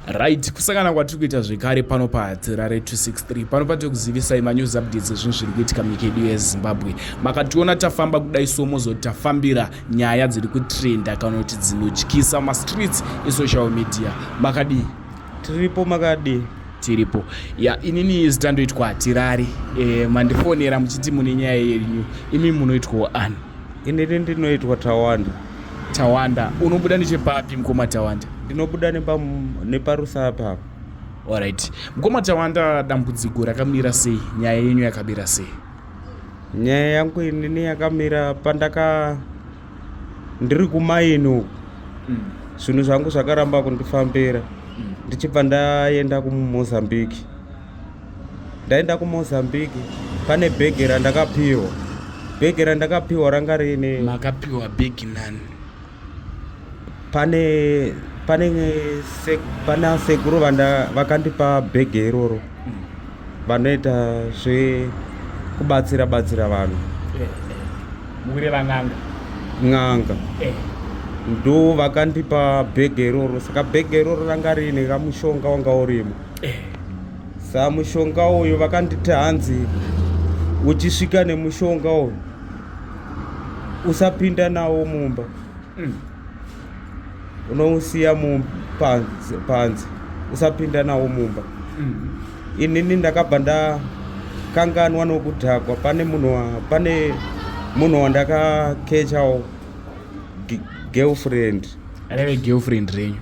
right kusangana kwatiri kuita zvekare pano pahatirare 263 pano patiri kuzivisai manews updates ezvinhu zviri kuitika munyika yedu yezimbabwe makationa tafamba kudai so mozoti tafambira nyaya dziri kutrenda kana kuti dzinotyisa mastreets esocial media makadii tiripo makadii tiripo ya inini zitandoitwa hatirari e, eh, mandifonera muchiti mune nyaya yenyu imi munoitwawo ani inini ndinoitwa tawanda Tawanda, unobuda nechepapi mukoma Tawanda? Ndinobuda neparusa apa. Alright. Mukoma Tawanda, dambudziko rakamira sei? Nyaya yenyu yakamira sei? Nyaya yangu inini yakamira pandaka ndiri kumaini uku. Mm. Zvinhu mm. zvangu zvakaramba kundifambira. Mm. Ndichibva ndaenda kuMozambique. ndaenda kumozambique pane bhegi randakapiwa bhegi randakapiwa ranga riine makapiwa bhegi nani pane pane se, pana sekuru vanda vakandipa bhegi iroro mm. vanoita zve kubatsira batsira vanhu eh, eh. mukureva n'anga n'anga eh. ndo vakandipa bhegi iroro saka bhegi iroro ranga riine kamushonga wanga urimo sa mushonga uyu vakanditi hanzi uchisvika nemushonga uyu usapinda nawo mumba mm. unousiya mupanzi panzi usapinda nawo mumba mm. inini ndakabva ndakanganwa nokudhakwa pane munhu pane munhu wandakakechawo girlfriend aneve girlfriend renyu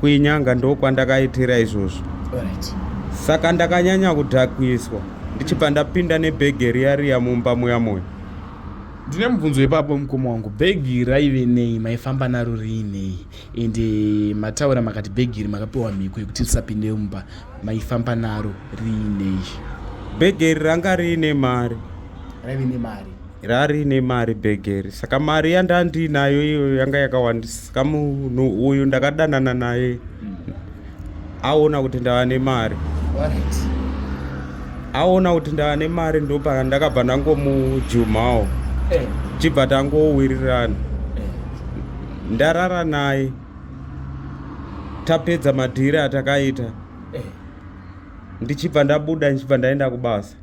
kuinyanga ndokwandakaitira izvozvo saka ndakanyanya kudhakwiswa ndichibva ndapinda nebhegi riya riya mumba muya moyo ndine mubvunzo ipapo mukoma wangu bhegi raive nei maifamba naro riinei ende eh, mataura makati bhegi iri makapiwa mhiko yekuti risapinde mumba maifamba naro riinei bhegi iri ranga riine mari raive nemari rarine mari begeri saka mari yandandiinayo iyoyo yanga yakawandisa saka munhu uyu ndakadanana naye hmm. aona kuti ndava nemari aona kuti ndava nemari ndopaka ndakabva ndangomujumawo eh. chibva tangowirirana eh. ndarara naye tapedza madhiri atakaita eh. ndichibva ndabuda ndichibva ndaenda kubasa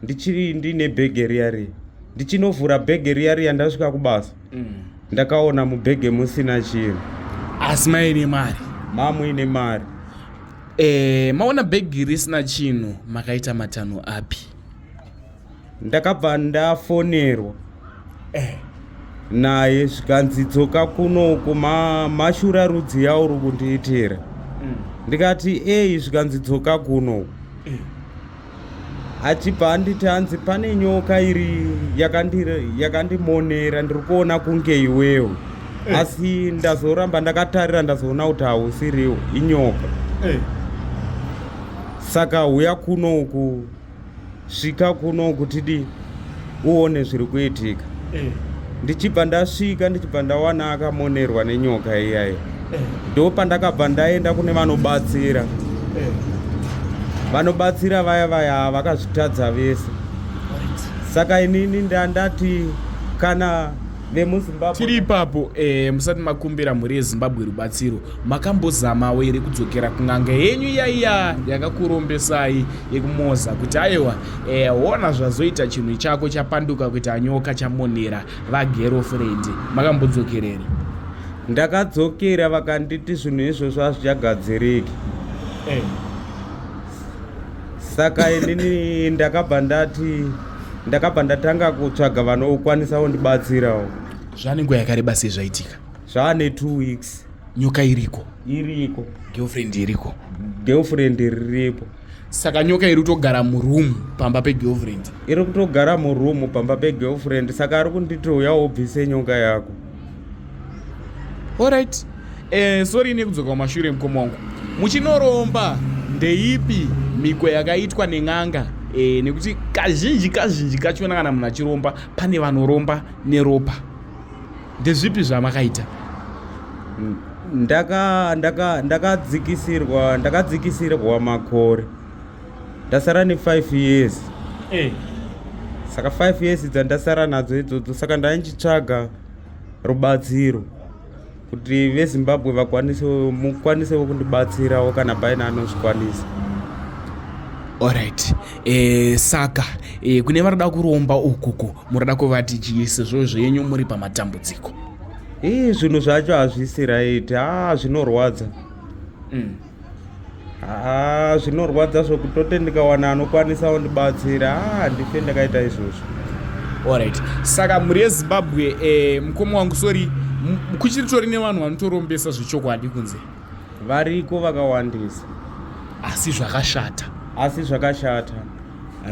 ndichiri ndine bhege riya riya ndichinovhura bhege riya riya ndasvika kubasa mm. ndakaona mubhege musina chinhu asi maine mari mamuine mari e, maona bhegi risina chinhu makaita matanho api ndakabva ndafonerwa eh. naye zvikanzi dzoka kunoku ma, mashura rudzi yauri kundiitira mm. ndikati eyi zvikanzi dzoka kunoku eh. achibva anditi hanzi pane nyoka iri yakandimonera ndiri kuona kunge iwewo eh. asi ndazoramba ndakatarira ndazoona kuti hausiriwo inyoka eh. saka huya kuno uku svika kuno kuti dii uone zviri kuitika eh. ndichibva ndasvika ndichibva ndawana akamonerwa nenyoka iyayi eh. ndo pandakabva ndaenda kune vanobatsira eh. vanobatsira vaya vaya vakazvitadza vese saka inini ndandati kana vemuzimbabwe tiri ipapo eh, musati makumbira mhuri yezimbabwe rubatsiro makambozamawo here kudzokera kun'anga yenyu iyaiya yakakurombesai yekumoza kuti aiwa e, ona zvazoita chinhu chako chapanduka kuita nyoka chamonera vagerofrendi makambodzokerere ndakadzokera vakanditi zvinhu izvozvo hazvichagadziriki hey. Eh. saka inini ndakabva ndati ndakabva ndatanga kutsvaga vanokwanisawo ndibatsirawo zvanenguva yakareba sei zvaitika zvaane two weeks nyoka iriko iriko girlfriend iriko girlfriend riripo saka nyoka iri kutogara muroom pamba pegirlfriend iri kutogara muroom pamba pegirlfriend saka ari kunditi uya wobvise nyoka yako orit eh, sori ine kudzoka kumashure mukoma wangu muchinoromba ndeipi miko yakaitwa nen'anga e, nekuti kazhinji kazhinji kachona kana munhu achiromba pane vanoromba neropa ndezvipi zvamakaita mm, ndaka ndaka ndakadzikisirwa ndakadzikisirwa makore ndasara ne 5 years eh. saka 5 years dzandasara nadzo idzodzo saka ndainchitsvaga rubatsiro kuti vezimbabwe vakwanise mukwanisewo kundibatsirawo kana paine anozvikwanisa orit E, saka e, kune vanoda kuromba ukuku munoda kuvati chii sezvo zvenyu muri pamatambudziko ii zvinhu zvacho hazvisi right haa zvinorwadza mm. haa zvinorwadza zvokutote ndikawana anokwanisa undibatsira haa handife ndakaita izvozvo orit saka mhuri yezimbabwe e, mukoma wangu sori kuchiritori nevanhu vanotorombesa zvechokwadi kunze variko vakawandisa asi zvakashata asi zvakashata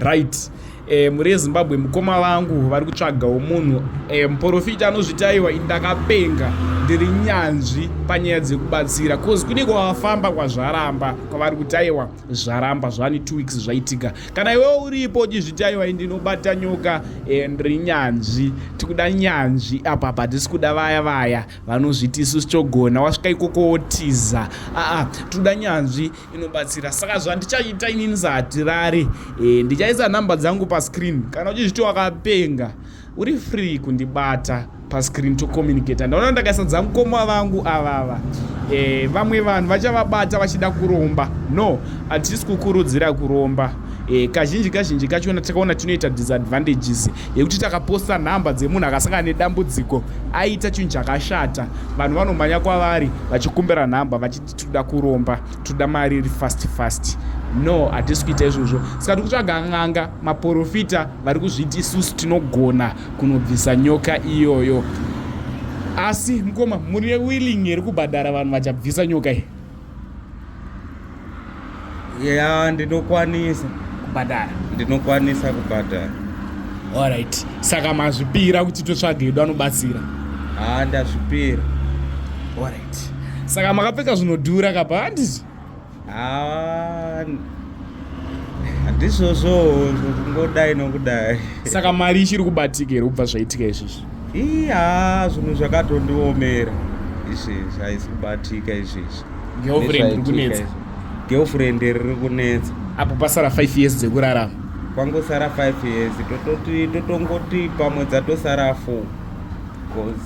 right e, mhuri yezimbabwe mukoma vangu vari kutsvagawo munhu e, muporofita anozvitaiwa indakapenga ndiri nyanzvi panyaya dzekubatsira bcause kune kwavafamba kwazvaramba kwavari kutaiwa zvaramba zvani two weeks zvaitika kana iwewo uripo uchizvitaiwa indinobata nyoka e, ndiri nyanzvi tikuda nyanzvi apapa tisi kuda vaya vaya vanozviti isusu togona wasvika ikoko wotiza aa toda nyanzvi inobatsira saka zvandichaita ini ndisahatirari e, ndichaisa nhamba dzangu pascreen kana uchizviti wakapenga uri free kundibata pascreen tocommunicata ndaona ndakaisa dzangu koma vangu avava e, vamwe vanhu vachavabata vachida kuromba no hatisi kukurudzira kuromba e, kazhinji kazhinji kachona takaona tinoita disadvantages yekuti takaposta nhamba dzemunhu akasangana nedambudziko aita chinhu chakashata vanhu vanomhanya kwavari vachikumbira nhamba vachiti tinoda kuromba tinoda mari iri fast fast no hatisi kuita izvozvo saka tiri kutsvaga n'anga maporofita vari kuzviti isusu tinogona kunobvisa nyoka iyoyo asi mukoma muri willing here kubhadhara vanhu vachabvisa nyoka iyi ya ndinokwanisa kubhadhara ndinokwanisa kubhadhara alright saka mazvipira kuti totsvaga edu anobatsira haa ndazvipira alright saka makapfeka zvinodhura kapa handizvo haa handizvozvo kungodai nokudai saka mari ichiri kubatika here kubva zvaitika izvizvi iya zvinhu zvakatondiomera izvezvi haisi kubatika izvezvi girlfriend riri kunetsa apo pasara 5 years dzekurarama kwangosara 5 years tototi totongoti pamwe dzatosara 4 bcoz